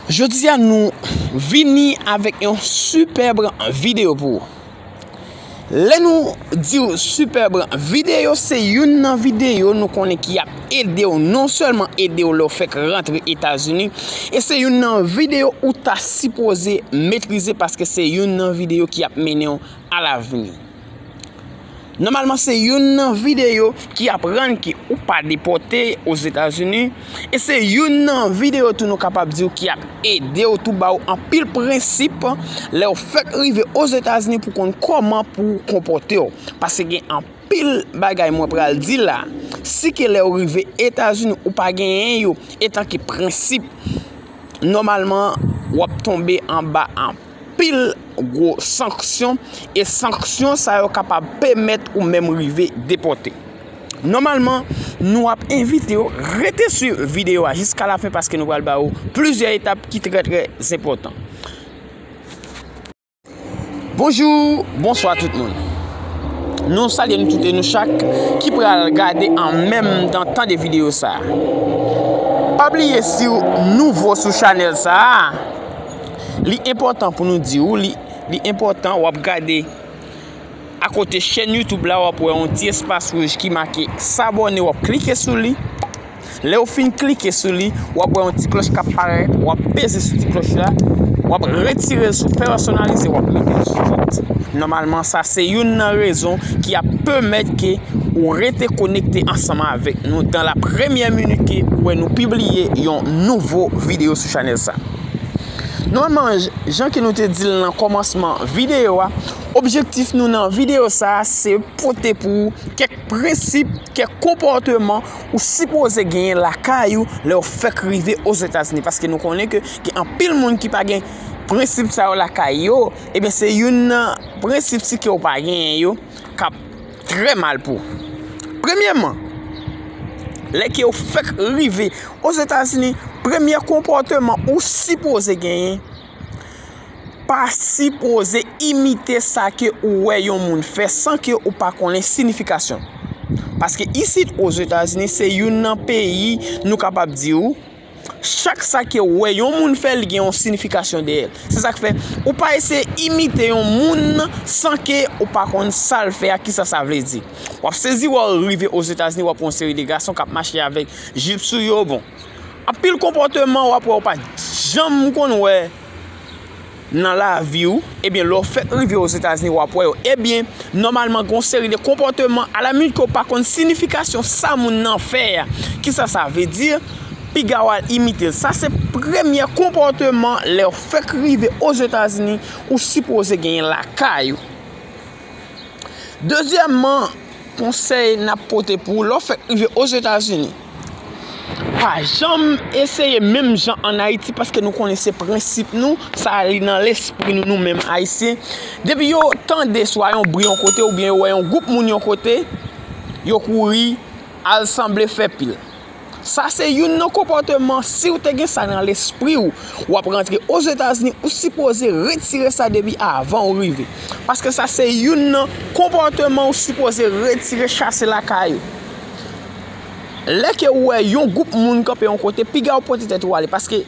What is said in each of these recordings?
Jodia nou vini avèk yon sipèb videyo pou ou. Lè nou di ou sipèb videyo se youn nan videyo nou konnen ki ap ede ou non sèlman ede ou lè ou fèk rantre Etazini e se youn nan videyo ou ta sipoze metrize paske se youn nan videyo ki ap mennen ou a lavni. Nòmalman se youn nan videyo ki aprann ke ou pa depòte Ozetazini e se youn nan videyo tou nou kapab diw ki ap ede ou tou ba ou anpil prensip lè ou fèk rive Ozetazini pou konn kòman pou ou konpòte ou. Pase gen anpil bagay mwen pral di la, si ke lè ou rive Etazini ou pa genyen yo etan ke prensip, nòmalman wap tonbe anba anpil. pil gwo sanksyon e sanksyon sa yo kapab pèmèt ou menm rive depòte. Nòmalman, nou ap envite ou rete swiv videyo a jiska la fen paske nou pral ba ou plizyè etap ki trè trè enpòtan. Bonjou, bonswa tout moun. Nou salye nou tout e nou chak ki pral gade an menm tan tande videyo sa. Pa bliye siw nouvo sou chanèl sa. Li enpòtan pou nou di ou li li enpòtan wap gade akote chèn YouTube la wap wè yon ti espas wouj ki make sabòne wap klike sou li lèw fin klike sou li wap wè yon ti klòch kap parèt wap peze sou ti klòch la wap retirel sou pèsonalize wap metel sou tout nòmalman sa se youn nan rezon ki ap pèmèt ke ou rete konekte ansanm avèk nou dan la premyè minit ke ou wè nou pibliye yon nouvo videyo sou chanèl sa. Nòmalman jan ke nou te di l nan kòmansman videyo a, objektif nou nan videyo sa se pote pou ou kèk prensip, kèk konpòteman ou sipoze genyen lakay ou lè ou fèk rive ozetazini paske nou konnen ke gen anpil moun ki pa gen prensip sa yo lakay yo, eben se youn nan prensip si ke ou pa genyen yo kap. Trè mal pou. Premyèman, lè ke ou fèk rive Ozetazini, premye konpòteman ou sipoze genyen, pa sipoze imite sa ke ou wè yon moun fè san ke ou pa konnen sinifikasyon. Paske isit Ozetazini se youn nan peyi nou kapab di ou. Chak sa ke ou wè yon moun fè li gen yon sinifikasyon dèyè l. Se sa k fè ou pa eseye imite yon moun san ke ou pa konn sa l fè a, ki sa sa vle di. W ap sezi wè ou rive Ozetazini w ap wè yon seri de gason k ap mache avèk jip sou yo bon. Anpil konpòteman w ap wè ou pa t janm konn wè. nan lavi w, ebyen lè w fèk rive ozetazini wap wè yo, ebyen nòmalman gen yon seri de konpòteman alamut ke w pa konn sinifikasyon sa moun nan fè a, kisa sa vle di, piga w al imite l, sa se premye konpòteman lè w fèk rive ozetazini ou sipoze genyen lakay ou. Dezyèmman, konsèy n ap pote pou ou, lè w fèk rive Ozetazini, pa janm eseye menm jan ann Ayiti paske nou konnen se prensip nou, sa li nan lespri nou nou menm Ayisyen. Depi yo tande swa yon bri yon kote oubyen yo wè yon gwoup moun yon kote, yo kouri al sanble fè pil. Sa se youn nan konpòteman siw te gen sa nan lespriw wap rantre ozetazini ou sipoze retire sa depi avan ou rive paske sa se youn nan konpòteman ou sipoze retire chase lakay ou lè ke ou wè yon gwoup moun kanpe yon kote piga ou pote tèt ou ale paske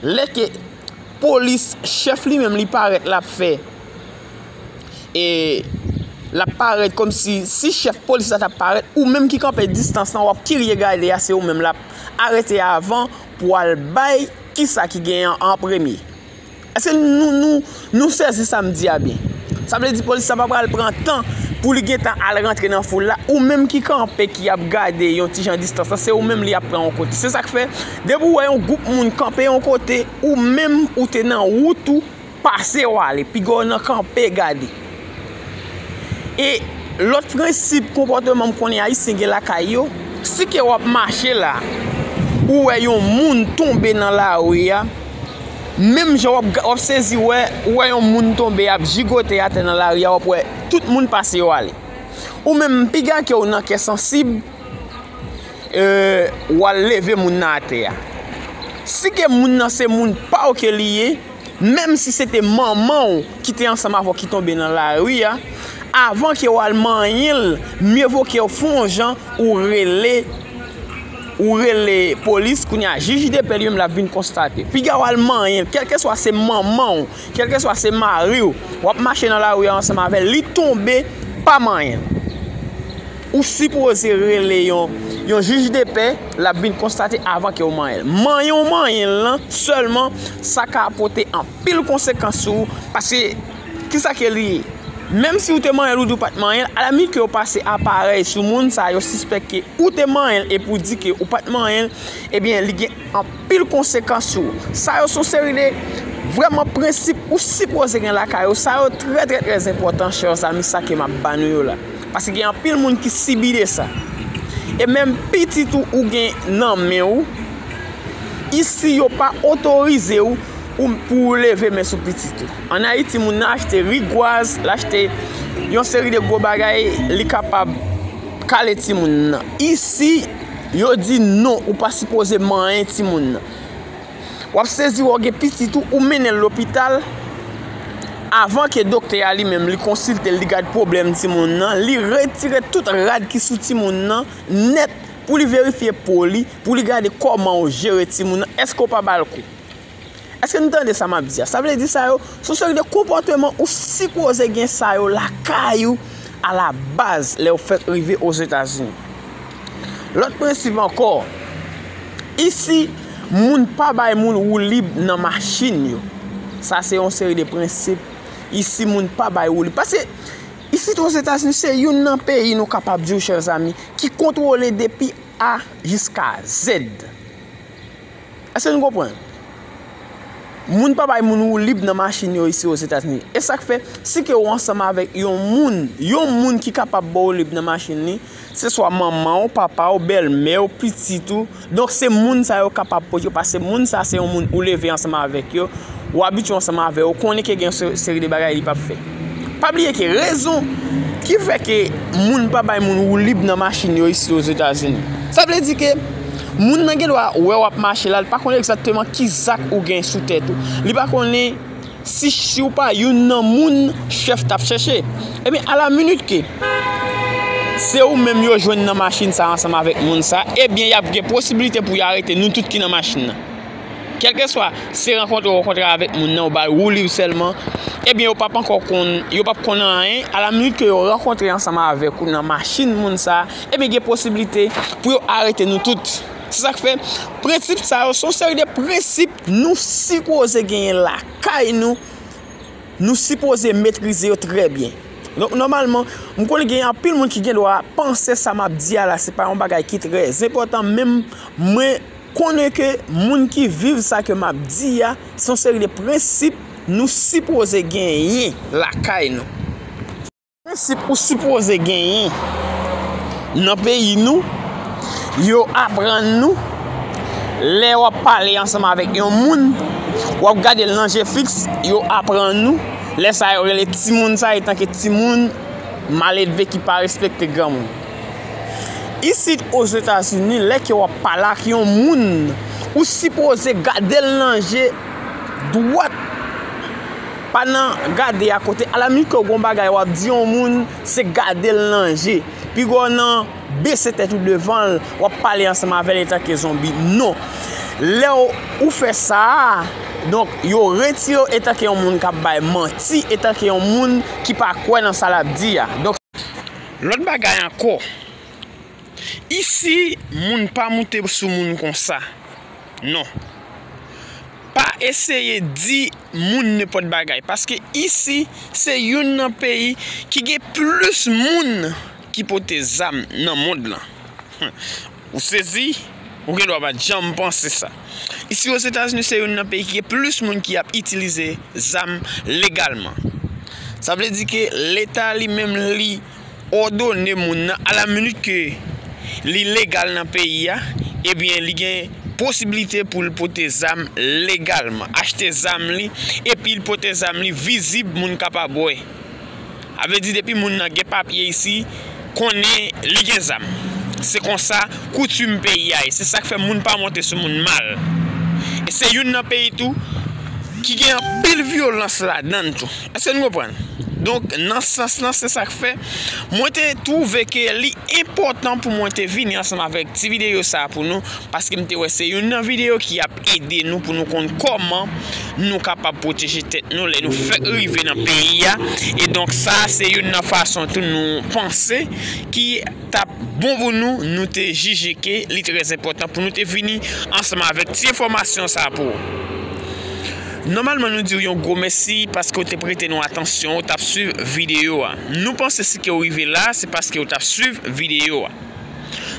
lè ke polis chèf li menm li parèt lap fè. e lap parèt kòm si si chèf polis la tap parèt ou menm ki kanpe distans lan wap kirye gade a se ou menm lap arete avan pou al bay kisa ki gen an an premye èske nou sezi sa m di a byen sa vle di polis la pa pral pran tan pou li gentan al rantre nan foul la ou menm ki kanpe ki ap gade yon ti jan distans lan se ou menm li ap pran yon kote se sak fè depi ou wè yon gwoup moun kanpe yon kote ou menm ou te nan wout ou Pase w ale, piga w nan kanpe gade. E lòt prensip konpòteman m konnen Ayisyen gen lakay yo, si ke w ap mache la, ou wè yon moun tonbe nan lari a, menm jan w ap sezi wè, ou wè yon moun tonbe ap jigote atè nan lari a, w ap wè tout moun pase yo ale. Ou menm, piga ke w nan kè sansib, w al leve moun nan atè a. Si ke moun nan se moun pa w ke li ye, menm si se te manman w ki te ansanm avè w ki tonbe nan lari a, avan ke w al manyen l, mye vo ke w fè yon jan ou rele, ou rele polis, kounye a jij depè li menm l ap vin konstate. Piga w al manyen l, kèlkeswa se manman w, kèlkeswa se mari w, w ap mache nan lari a ansanm avè l, li tonbe, pa manyen l. Ou sipoze rele yon yon jij de pè lap vin konstate avan kew manyenl. Manyen ou manyenl lan sèlman sa ka pote anpil konsekans sou ou paske kisa ke li ye? Menm si ou te manyenl ou di ou pat manyenl a la minit ke yo pase aparèy sou moun sa yo sispèk ke ou te manyenl epi ou di ke ou pat manyenl ebyen li gen Pil konsekans yo. Sa yo son seri de vrèman prensip ou sipoze gen lakay ou. Sa yo trè trè trè enpòtan chers amis sa ke map ba nou yo la. Paske gen anpil moun ki sibi de sa. E menm pitit ou ou gen nan men ou. Isi yo pa otorize ou pou ou leve men sou pitit ou. An Ayiti moun nan achte rigwaz, l achte yon seri de gwo bagay li kapab kale timoun nan. Isi. Yo di non ou pa sipoze manyen timoun nan. Wap sezi wè w gen pitit ou, ou mennen l lopital, avan ke doktè a li menm li konsilte l, li gad pwoblèm timoun nan, li retire tout rad ki sou timoun nan nèt pou li verifye po li, pou li gade kòman ou jere timoun nan, èske ou pa ba l kou? Eske nou tande sa map di a? Sa vle di sa yo se yon seri de konpòteman ou sipoze gen sa yo lakay ou a la baz lè ou fèk rive Ozetazini. Lòt prensip ankò, isi moun pa bay moun woulib nan machin yo. Sa se yon seri de prensip, isi moun pa bay woulib. Pase, isit Ozetazini se youn nan peyi nou kapab di ou chèr zami ki kontwole depi A jiska Z. Eske nou konprann? Moun pa bay moun woulib nan machin yo isi Ozetazini. E sa k fè, si ke ou ansanm avèk yon moun, yon moun ki kapab ba w woulib nan machin li, se swa manman ou, papa ou, bèlmè ou, pitit ou, donk se moun sa yo kapab pote yo paske moun sa se yon moun ou leve ansanm avèk yo, ou abitye ansanm avè yo, ou konnen ke gen yon seri de bagay li p ap fè. Pa bliye ke rezon ki fè ke moun pa bay moun woulib nan machin yo isi Ozetazini. Sa vle di ke moun nan gen dwa wè w ap mache la, li pa konnen egzakteman ki zak ou gen sou tèt ou. Li pa konnen si si w pa youn nan moun chèf t ap chèche. Ebyen, a la minit ke se ou menm yo jwenn nan machin sa ansanm avèk moun sa, ebyen y ap gen posibilite pou yo arete nou tout ki nan machin nan. Kèlkeswa se rankontre ou rankontre avèk moun nan ou bay wouliw sèlman, ebyen yo pap ankò konn, yo pap konn anyen, a la minit ke yo rankontre ansanm avèk ou nan machin moun sa, ebyen gen posiblite pou yo arete nou tout. Se sak fè, prensip sa yo se yon seri de prensip nou sipoze genyen lakay nou, nou sipoze metrize yo trè byen. Donk nòmalman, m konnen gen anpil moun ki gen dwa panse sa map di a la se pa yon bagay ki trè zenpòtan menm mwen Konnen ke moun ki viv sa ke map di a, se yon seri de prensip nou sipoze genyen lakay nou. Prensip ou sipoze genyen nan peyi nou, yo aprann nou, lè wap pale ansanm avèk yon moun, wap gade l nan je fiks, yo aprann nou, lè sa yo rele timoun sa etanke timoun, maledve ki pa respekte granmoun. Isit Ozetazini lè ke wap pale ak yon moun ou sipoze gadel nan je dwat pa nan gade a kote a la minit ke gon bagay wap di yon moun se gadel nan je pi gwo nan bese tèt ou devanl wap pale ansanm avèl etanke zonbi non lè ou fè sa donk yo retire ou etanke yon moun kap bay manti etanke yon moun ki pa kwè nan sa lap di a. Lòt bagay ankò, isi moun pa moute sou moun konsa non. Pa eseye di moun nenpòt bagay paske isi se youn nan peyi ki gen plis moun ki pote zam nan mond lan. Ou sezi? Ou gen dwa pa t janm panse sa. Isi Ozetazini se youn nan peyi ki gen plis moun ki ap itilize zam legalman. Sa vle di ke leta li menm li òdone moun nan a la minit ke li legal nan peyi a, ebyen li gen posibilite pou l pote zam legalman, achte zam li epi l pote zam li vizib moun kapab wè. A vle di depi moun nan gen papye isi, konnen li gen zam. Se konsa koutim peyi a ye. Se sak fè moun pa monte sou moun mal. E se youn nan peyi tou ki gen anpil vyolans ladann tou. Eske nou konprann? Donk nan sans lan se sak fè mwen te twouve ke li enpòtan pou mwen te vini ansanm avèk ti videyo sa pou nou paske m te wè se youn nan videyo ki ap Ede nou pou nou konn kòman nou kapab pwoteje tèt nou lè nou fèk rive nan peyi a. E donk sa a se youn nan fason tou nou panse ki t ap bon pou nou, nou te jije ke li trèzenpòtan pou nou te vini ansanm avèk ti enfòmasyon sa a pou ou. Nòmalman nou di ou yon gwo mèsi paske ou te prete nou atansyon, ou t ap swiv videyo a. Nou panse si ke ou rive la a se paske ou t ap swiv videyo a.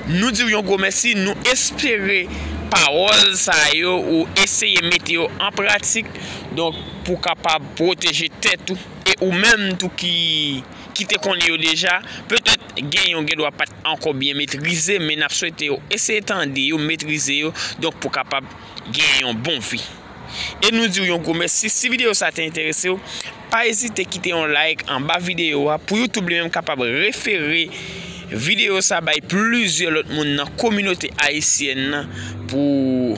Nou di w yon gwo mèsi, nou espere pawòl sa yo ou eseye mete yo an pratik donk pou w kapab pwoteje tèt ou e ou menm tou ki te konnen yo deja, petèt gen yon gendwa pat ankò byen metrize men n ap swete w eseye tande yo, metrize yo donk pou w kapab gen yon bon vi. E nou di w yon gwo mèsi, si videyo sa te enterese w, Pa ezite kite yon like anba videyo a pou YouTube li menm kapab refere videyo sa bay plizyè lòt moun nan kominote ayisyèn nan pou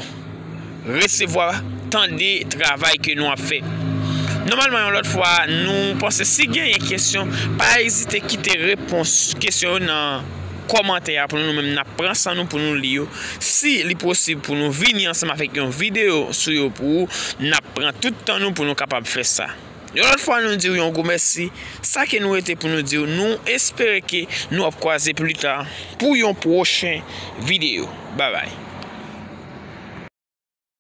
resevwa, tande travay ke nou ap fè. Nòmalman yon lòt fwa nou panse si genyen kesyon pa ezite kite repons kesyon yo nan. kòmantè a pou nou, nou menm nap pran san nou pou nou li yo, si li posib pou nou vini ansanm avèk yon videyo sou yo pou ou, nap pran tout tan nou pou nou kapab fè sa. Yon lòt fwa nou diw yon gwo mèsi, sa ke nou rete pou nou diw nou espere ke nou ap kwaze pli ta pou yon pwochen videyo. Babay.